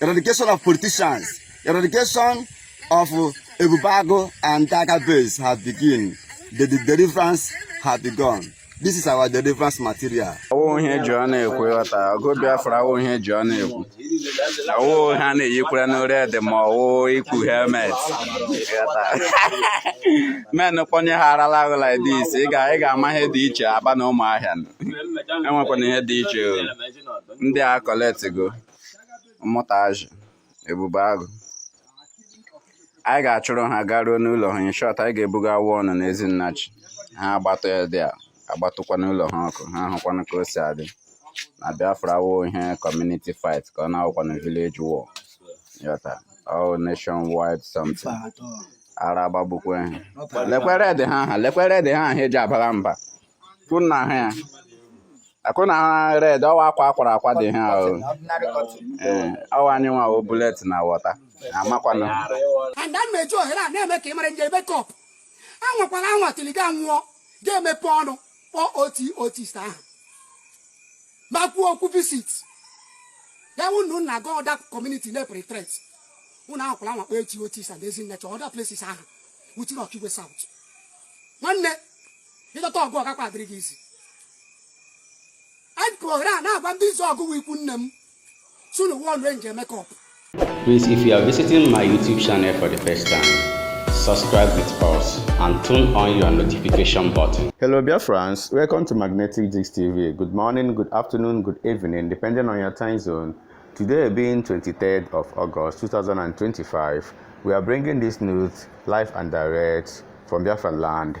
eradication of politicians eradication of ebubeagu and tiger base have begin the, the deliverance have begun this is our deliverance material. ọ wụghị eji ọnụ ekwu ị ghọta ọgụ biafra ọ wụghị eji ọnụ ekwu ọ wụghị a na-eyikwaranụ red ma ọ wụ ikpu helmet men kpọnye ha arala ahụ like this ị ga-ama ihe dị iche aba na ụmụahịa enwekwana ihe dị iche ndị a go. ụmụnta azi ebubeagụ anyị ga-achụrụ ha garuo n'ụlọ ha in short anyị ga-ebuga awụ ọnụ n'ezinnachi ha agbatụ ya dị a agbatụkwa n'ụlọ ha ọkụ ha ahụkwanụ ka o si adị na biafra awụghị community fight ka ọ na-awụkwanụ village war ị ghọta ọ wụ nationwide something ara agbagbukwa ha lekwe red ha ahụ lekwe red ha ahụ eji abara mba kunna ha ya akụna ha red ọ wụ akwa akwara akwa dị ha ahụ ee ọ wụ anyị nwa o bullet na water amakwana and a na-eji ohere a na-eme ka ị mara Angel Makeup a nwakwara anwa trigger war ga-emepe ọnụ kpọọ oti otist ahụ ma kwuo okwu visit ya wụ na nna gị other community na-epere threat ụnụ anwakwara anwa kpọọ oti otist and ezinnachi other places ahụ within okigwe south nwanne ị dọta ọgụ ọ gakwa adịrị gị easy anyị pụrụ ohere a na-agwa ndị izu ọgụ ikwu nne m sunu wụọ nwa Angel Makeup Please, if you are visiting my YouTube channel for the first time, subscribe with us and turn on your notification button. Hello, Biafrans. Welcome to Magnetic Jigs TV. Good morning, good afternoon, good evening, depending on your time zone. Today being 23rd of August 2025, we are bringing this news live and direct from Biafra land.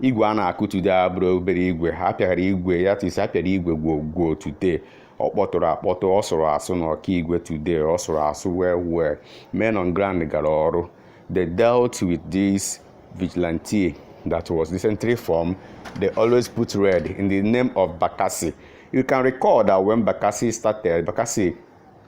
igwe a na-akụ today abụrọ obere igwe ha pịara igwe that is a pịara igwe gwo gwo today ọ kpọtụrụ akpọtụ ọ sụrụ asụ na okigwe today ọ sụrụ asụ well well men on ground gara ọrụ they dealt with this vigilante that was recently formed they always put red in the name of bakassi you can recall that when bakassi started bakassi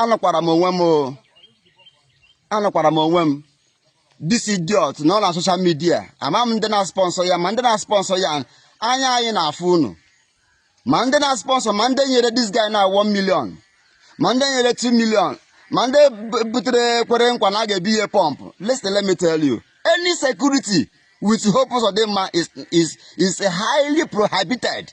anọkwara m onwe m anọkwara m onwe m this idiot nọ na social media ama m ndị na-sponsor ya ma ndị na-sponsor ya anya anyị na-afụ unu ma ndị na-sponsor ma ndị nyere this guy na 1 million ma ndị nyere 2 million ma ndị butere kwere nkwa na a ga-ebunye pump listen let me tell you any security with Hope Uzodinma is, is, is highly prohibited.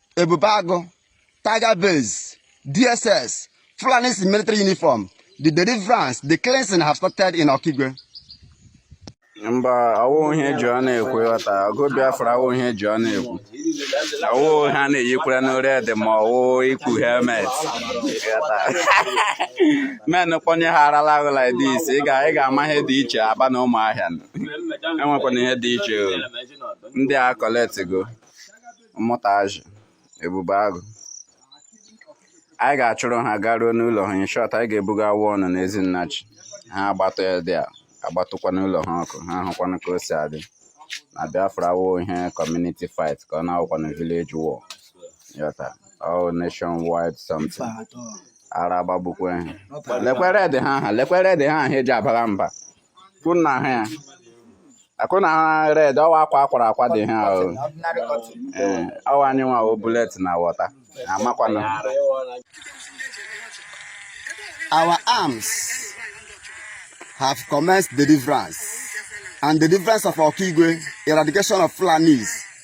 Ebube Agụ, Tiger Base, DSS, Fulanis in military uniform, the deliverance, the cleansing have started in Okigwe. mba awụ ihe e ji ọnụ ekwu ghọta ọgụ Biafra awụ ihe e ji ọnụ ekwu awụ ha na-eyikwaranụ red ma ọwụ ikpu helmet men kpọnye ha arala ahụ like this ị ga-ama ihe dị iche Aba na Ụmụahịa enwekwana ihe dị iche ndị a collect go. mmụta azụ Ebube Agụ anyị ga-achụrụ ha garuo n'ụlọ ha in short anyị ga-ebuga awa ọnụ na ezinnachi ha agbatụ ya dị a agbatụkwa n'ụlọ ha ọkụ ha ahụkwanụ ka o si adị na Biafra awụ ihe community fight ka ọ na-awụkwa na village war ị ghọta all nation wide something ara agbagbukwa ha lekwe red ha ha lekwe red ha ha eji abara mba kunna ha ya akụna ha red ọ wụ akwa a kwara akwa dị ha o Ordinary cotton. ee ọ wụ anyị nwa o bullet na water amakwana Our arms have commenced deliverance and deliverance of Okigwe, eradication of Fulanis,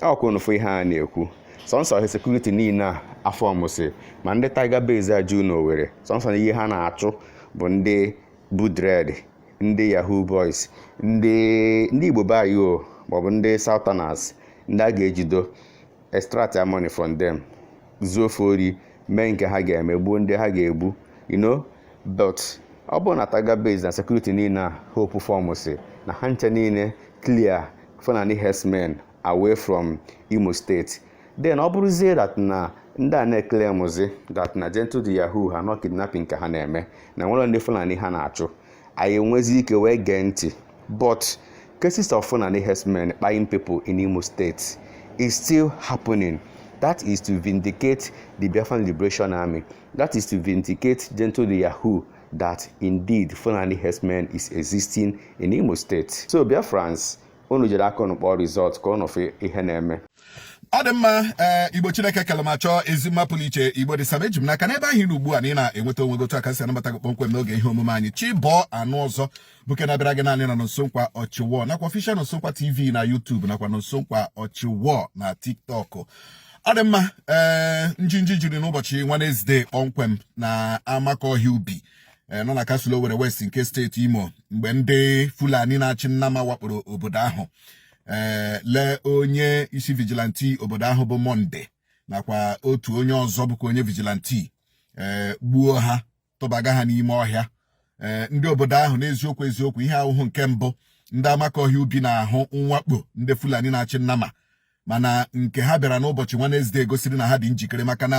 ọ kwa unu fụ ihe a na-ekwu sọnsọ ihe security niile a a formụsị ma ndị Tiger Base a juu na Owere sọnsọ na ihe ha na-achụ bụ ndị bu dread ndị yahoo boys ndị ndị Igbo be anyị o maọbụ ndị southerners ndị a ga-ejido extract their money from them zuo fa ori mee nke ha ga-eme gbuo ndị ha ga-egbu you know but ọ bụrụ na Tiger Base na security niile a Hope formsị na ha nche niile clear Fulani herdsmen away from Imo State then ọ bụrụzie that na ndị a na-eclaimzi that na Gentle the Yahoo ha n'ọ kidnapping ka ha na-eme na nwere ndị Fulani ha na-achụ anyị enwezi ike wee gee ntị but cases of Fulani herdsmen kpaiing people in Imo State is still happening that is to vindicate the Biafran Liberation Army that is to vindicate Gentle the Yahoo that indeed Fulani herdsmen is existing in Imo State so Biafrans unu jiri aka unu kpọọ result ka unu fụ ihe na-eme ọ dị mma ee eh, Igbo Chineke kele ma chọọ ezi mma pụrụ iche Igbo dị saba eji m n'aka n'ebe ahụ ị nọ ugbu a na ị na-enweta onwe gị otu a ka e si anabata gị kpọmkwem n'oge ihe omume anyị chi bọọ a nụ ọzọ bụ nke na-abịara gị naanị na Nonso Nkwa ọchịwọ nakwa official Nonso Nkwa TV na YouTube nakwa Nonso Nkwa ọchịwọ na TikTok ọ dị mma ee eh, njinji jiri n'ụbọchị Wednesday kpọmkwem na Amakọhịa Ubi eh, nọ na kansụl Owere West nke steeti Imo mgbe ndị Fulani na-achị nnama wakporo obodo ahụ ee eh, lee onye isi vigilante obodo ahụ bụ Monday nakwa otu onye ọzọ bụkwa onye vigilante ee eh, gbuo ha tụbaga ha n'ime ọhịa ee eh, ndị obodo ahụ n'eziokwu eziokwu ihe a awụhụ nke mbụ ndị Amakọhịa Ubi na-ahụ mwakpo ndị Fulani na-achị nnama mana nke ha bịara n'ụbọchị Wednesday gosiri na ha dị njikere maka na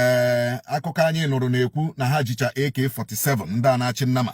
ee akụkọ anyị nụrụ na-ekwu na ha jicha AK47 ndị a na-achị nnama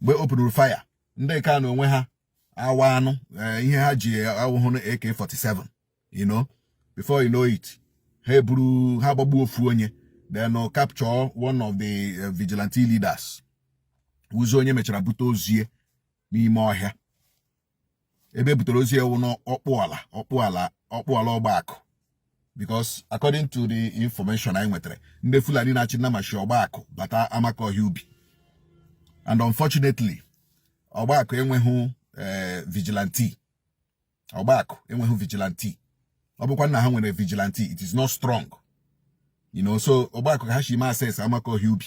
mgbe openụrụ fire ndị nke a na onwe ha awa anụ eh, ihe ha ji awụhụnụ AK47 you know before you know it ha eburu ha gbagbuo ofu onye then uh, capture one of the eh, vigilante leaders wụzi onye e mechara bute ozu ya n'ime ọhịa ebe e butere ozu ya wụ n'Ọkpụala Ọkpụala Ọkpụala Ọgbakụ because according to the information anyị nwetara ndị Fulani na-achị nama shi Ọgbakụ bata Amakọhịa Ubi and unfortunately Ọgbakụ enweghị eh, vigilante Ọgbakụ enweghị vigilante ọ bụkwa na ha nwere vigilante it is not strong you know so Ọgbakụ ka ha shi ma access Amakọhịa Ubi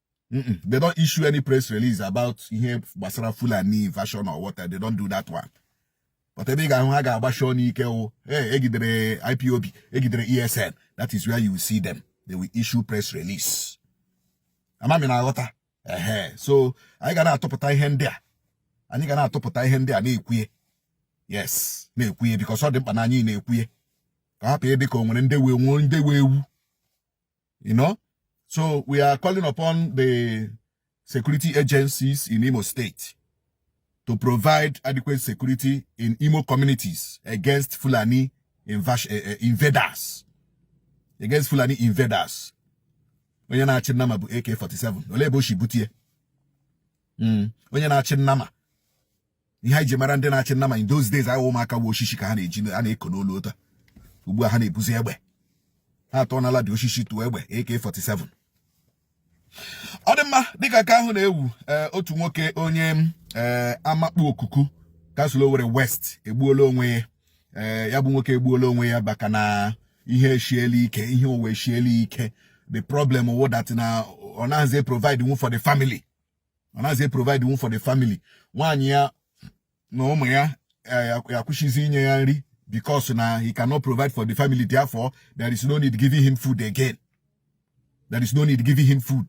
they don't issue any press release about ihe gbasara Fulani invasion or what they don't do that one but ebe ị ga-ahụ ha ga-agbashi ọnụ ike wụ ee e gidere IPOB e gidere ESN that is where you will see them they will issue press release ama m ị na-aghọta ehe so anyị ga na-atụpụta ihe ndị a anyị ga na-atụpụta ihe ndị a na-ekwu ya yes na-ekwu ya because ọ dị mkpa na anyị na-ekwu ya ka ọ hapụ ịdị ka o nwere ndị wee nwuo ndị wee ewu you know. So we are calling upon the security agencies in Imo State to provide adequate security in Imo communities against Fulani eh, eh, invaders. Against Fulani invaders. Onye na-achị nnama bu AK-47. Olee ebe o shi bute ya? Hmm. Onye na-achị nnama ihe anyị ji mara ndị na-achị nnama in those days a wụ ụmụaka wụ oshishi ka ha na-eji a na-eko n'olu ụta ugbu a ha na-ebuzi egbe ha atọ n'ala dị oshishi tụọ egbe AK47 ọ dị mma dịka nke ahụ na-ewu eh, otu nwoke onye eh, Amakpu Okuku kansụl Owerri West egbuola onwe ya eh, ya bụ nwoke egbuola onwe ya maka na ihe eshiela ike ihe uwe eshiela ike the problem wụ that na ọ naghịzi eprovidenwu for the family ọ naghịzi eprovidenwu for the family nwaanyị ya na ụmụ ya eh, akwụsịzi inye ya nri because na he cannot provide for the family therefore there is no need giving him food again there is no need giving him food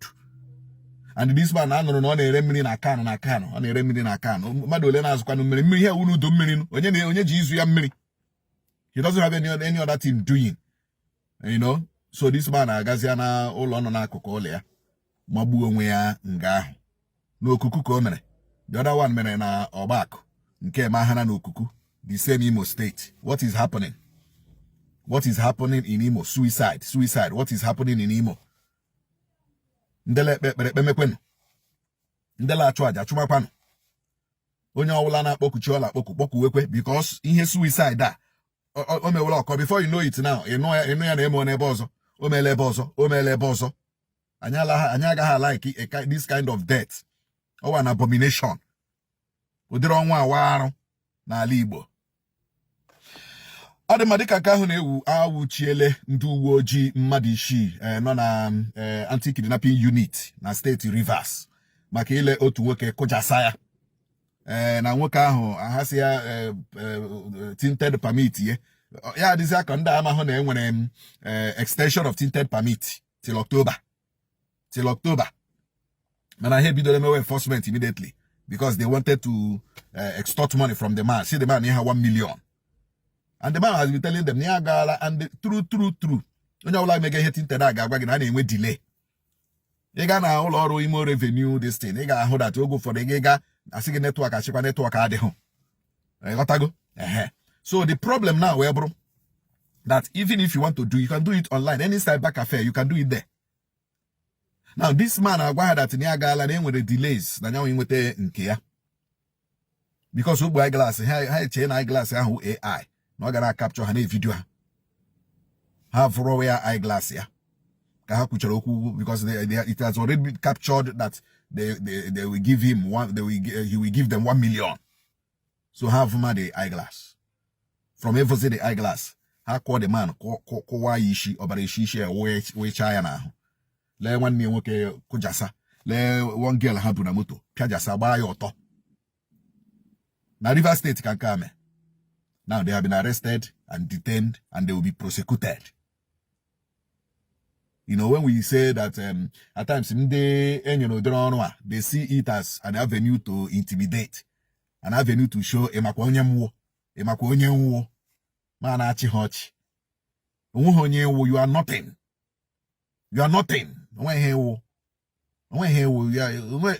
and this man a nụrụ na ọ na-ere mmiri na can na can ọ na-ere mmiri na can mmadụ ole na-azụkwanụ mmiri mmiri ihe a wụnụ udu mmiri onye na onye ji ịzụ ya mmiri he doesn't have any, any other thing doing you know so this man agazia na ụlọ nọ n'akụkụ ụlọ ya magbuo onwe ya nga ahụ n'okuku ka o mere the other one mere na ọgbakụ nke mahara na okuku the same Imo State what is happening what is happening in Imo suicide suicide what is happening in Imo ndele ekpe ekpere ekpemekwenụ ndele achụ aja chụmakwanụ onye ọbụla na-akpọku chi ọ la-akpọku kpọkuwekwe because ihe suicide a o mewere ọkọ before you know it now ị nụ ya na-eme n'ebe ọzọ o meela ebe ọzọ o meela ebe ọzọ anyị agaghị a-like this kind of death ọ wụ an abomination ụdịrị ọnwụ a wụ arụ n'ala Igbo ọ dị mma dịka nke ahụ na-ewu anwụchiele ndị uwe ojii mmadụ isii eh, nọ na eh, anti-kidnapping unit na steeti Rivers maka ile otu nwoke kụjasa ya ee eh, na nwoke ahụ ha sị ya eh, eh, tinted permit ye ya ọ dịzi ka ndị a amahụ na enwere m extension of tinted permit till October till October mana ha ebidola mewe enforcement immediately because they wanted to uh, extort money from the man sị the man nye ha 1 million and the man has been telling them na ya agaala and true true true onye ọbụla mega ihe tinted a ga-agwa gị na a na-enwe delay ị ga na ụlọ ọrụ Imo revenue this thing ị ga-ahụ that oge ụfọdụ gị gaa a sị gị network a sịkwa network adịghị ị ghọtago ehe so the problem now wee bụrụ that even if you want to do you can do it online any cyber cafe you can do it there now this man agwa ha that na ya agaala na enwere delays na ya wụ inweta nke ya because o kpu eyeglass ha echee na eyeglass ahụ AI na ọ ga na-acapture ha na-evideo ha ha vuruwa ya eyeglass ya ka ha kwuchara okwu because they, they, it has already been captured that they, they, they will give him one they will, he will give them one million so ha vuma the eyeglass from ivuzi the eyeglass ha kụọ the man kụwaa ya isi ọbara esi isi ya wụchaa ya n'ahụ lee nwanne ya nwoke kụjasa lee one girl ha bu na moto pịajasa gbaa ya ọtọ na Rivers State ka nke a mee now they have been arrested and detained and they will be prosecuted you know when we say that um, at times ndị enyere ụdịrị ọrụ a they see it as an avenue to intimidate an avenue to show ị makwa onye m wụ ị makwa onye m wụ m ana-achị ha ọchị onweghị onye ị wụ you are nothing you are nothing onwe ihe ị wụ onwe ihe ị wụ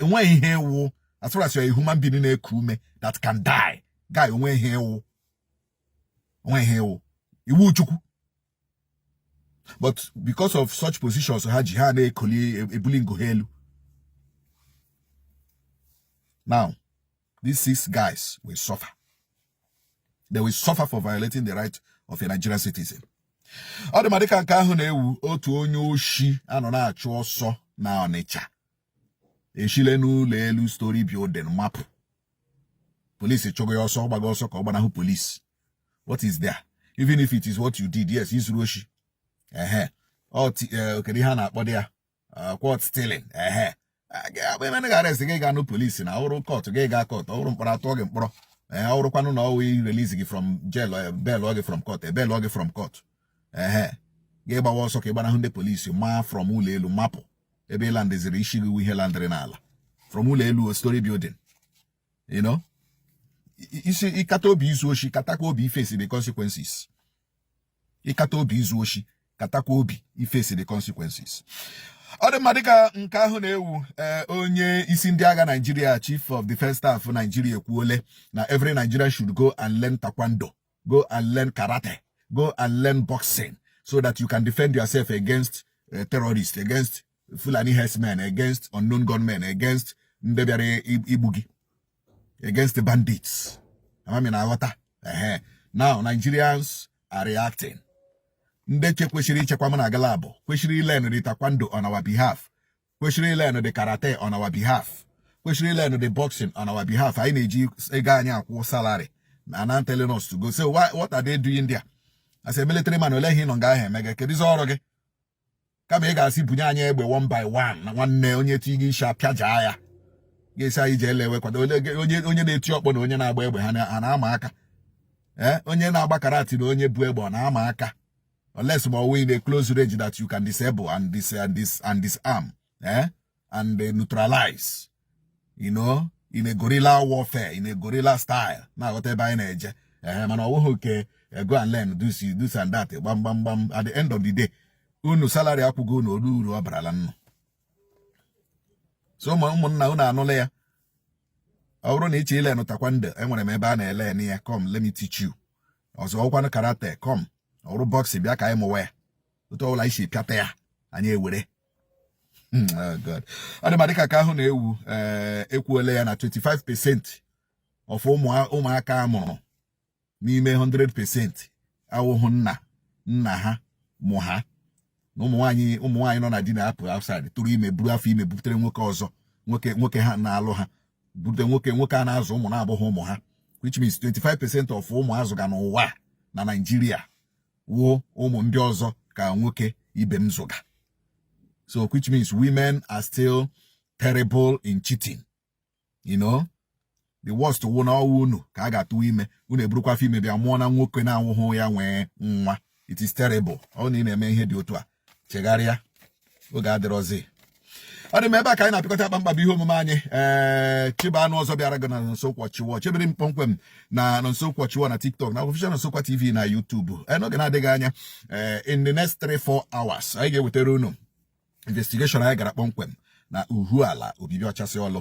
onwe ihe ị wụ as far as you are a human being na-eku ume that can die guy onwe ihe ị wụ onwe ihe ị wụ ị wụ Chukwu but because of such positions ha ji ha na-ekoli ebuli ngo ha elu now these six guys will suffer they will suffer for violating the right of a Nigerian citizen ọ dị mma dịka nke ahụ na-ewu otu onye oshi a nọ na-achụ ọsọ na Ọnịcha eshile n'ụlọ elu story building mapụ polisi chụgo ya ọsọ ọ gbaga ọsọ ka ọ gbanahụ polisi what is there even if it is what you did yes i zuru oshi ehe okay kedu ihe a na-akpọdị ya uh, caught stealing ehe akpa ime na ga-arrest gị gaa na polisi na ọrụ court gị gaa court ọrụ mkpọrọ a tụọ gị mkpọrọ ee eh, ọrụkwanụ na ọwụ irelease gị from jail e bailọ gị from court e bailọ gị from court ehe gị gbawa ọsọ ka ị gbanahụ ndị polisi maa from ụlọ elu mapụ ebe ị landeziri isi gị ihe landịrị n'ala from ụlọ elu o story building you know isi ị kata obi izu oshi katakwa obi iface the consequences ị kata obi izu oshi katakwa obi iface the consequences ọ dị mma dịka nke ahụ na-ewu eh, onye isi ndị agha Nigeria chief of defense staff Nigeria ekwuole na every Nigerian should go and learn taekwondo go and learn karate go and learn boxing so that you can defend yourself against eh, terrorists against Fulani herdsmen against unknown gunmen against ndị bịara igbu gị against the bandits ama m ị na-aghọta ehe now Nigerians are reacting ndị nche kwesịrị ichekwa m na gị laabụ kwesịrị ilearn the taekwondo on our behalf kwesịrị ilearn the karate on our behalf kwesịrị ilearn the boxing on our behalf anyị na-eji ego anyị akwụ salary are now telling us to go so what are they doing there as a military man ole ihe ị nọ nga ahụ eme gị kedụzi ọrụ gị kama ị ga-asị bunye anyị egbe one by one na nwanne onye ti gị isi a pịajaa ya gị asị anyị jee learnwe taekwondo onye na-eti ọkpọ na onye na-agba egbe ha na-ama aka ee eh, onye na-agba karate na onye bu egbe ọ na-ama aka unless ma ọwụ in a close range that you can disable and dis and dis and disarm eh, and neutralize you know in a guerrilla warfare in a guerrilla style ị na-aghọta ebe anyị na-eje ee eh, mana ọwụghị nke eh, go and learn this this and that gbam gbam gbam at the end of the day unu salary a kwụgo unu ole uru ọ barala nnụ so ụmụ ụmụnna unu anụla ya ọ bụrụ na ị chọ ilearn taekwondo enwere m ebe a na-elearn ya come let me teach you ọzọ ọkwanụ karate come ọrụ boxing bịa ka anyị mụwa ya otu ọbụla anyị si pịata ya anyị ewere hmm, oh God ọ dị mma dịka nke ahụ na-ewu eh, e kwuole ya na 25 percent of ụmụaka a mụrụ n'ime 100 percent awụhụ nna nna ha mụ ha na ụmụnwaanyị ụmụnwaanyị nọ na di na-apụ outside tụrụ ime buru afọ ime butere nwoke ọzọ nwoke nwoke ha na-alụ ha bute nwoke nwoke a na-azụ ụmụ na-abụghị ụmụ ha which means 25 percent of ụmụ a zụga n'ụwa na Naịjirịa wụ ụmụ ndị ọzọ ka nwoke ibe m zụga so which means women are still terrible in cheating you know the worst wụ na ọ wụ unu ka a ga-atụwa ime unu eburukwa afọ ime bịa mụọ na nwoke na-awụhụ ya nwe nwa it is terrible ọ na ị na-eme ihe dị otu a chegharịa oge adịrọzi ọ dị mma ebe a ka anyị na-apịkọta akpa mkpa bụ ihe omume anyị ee eh, chịba anụ ọzọ bịara gị na nsokwa chiwo chebere m kpọmkwem na nsokwa chiwo na tiktok na official nsokwa tv na youtube eh, n'oge na-adịghị anya eh, in the next 3-4 hours anyị ga-ewetara unu investigation anyị gara kpọmkwem na uhuala obibi ọchasị ọlụ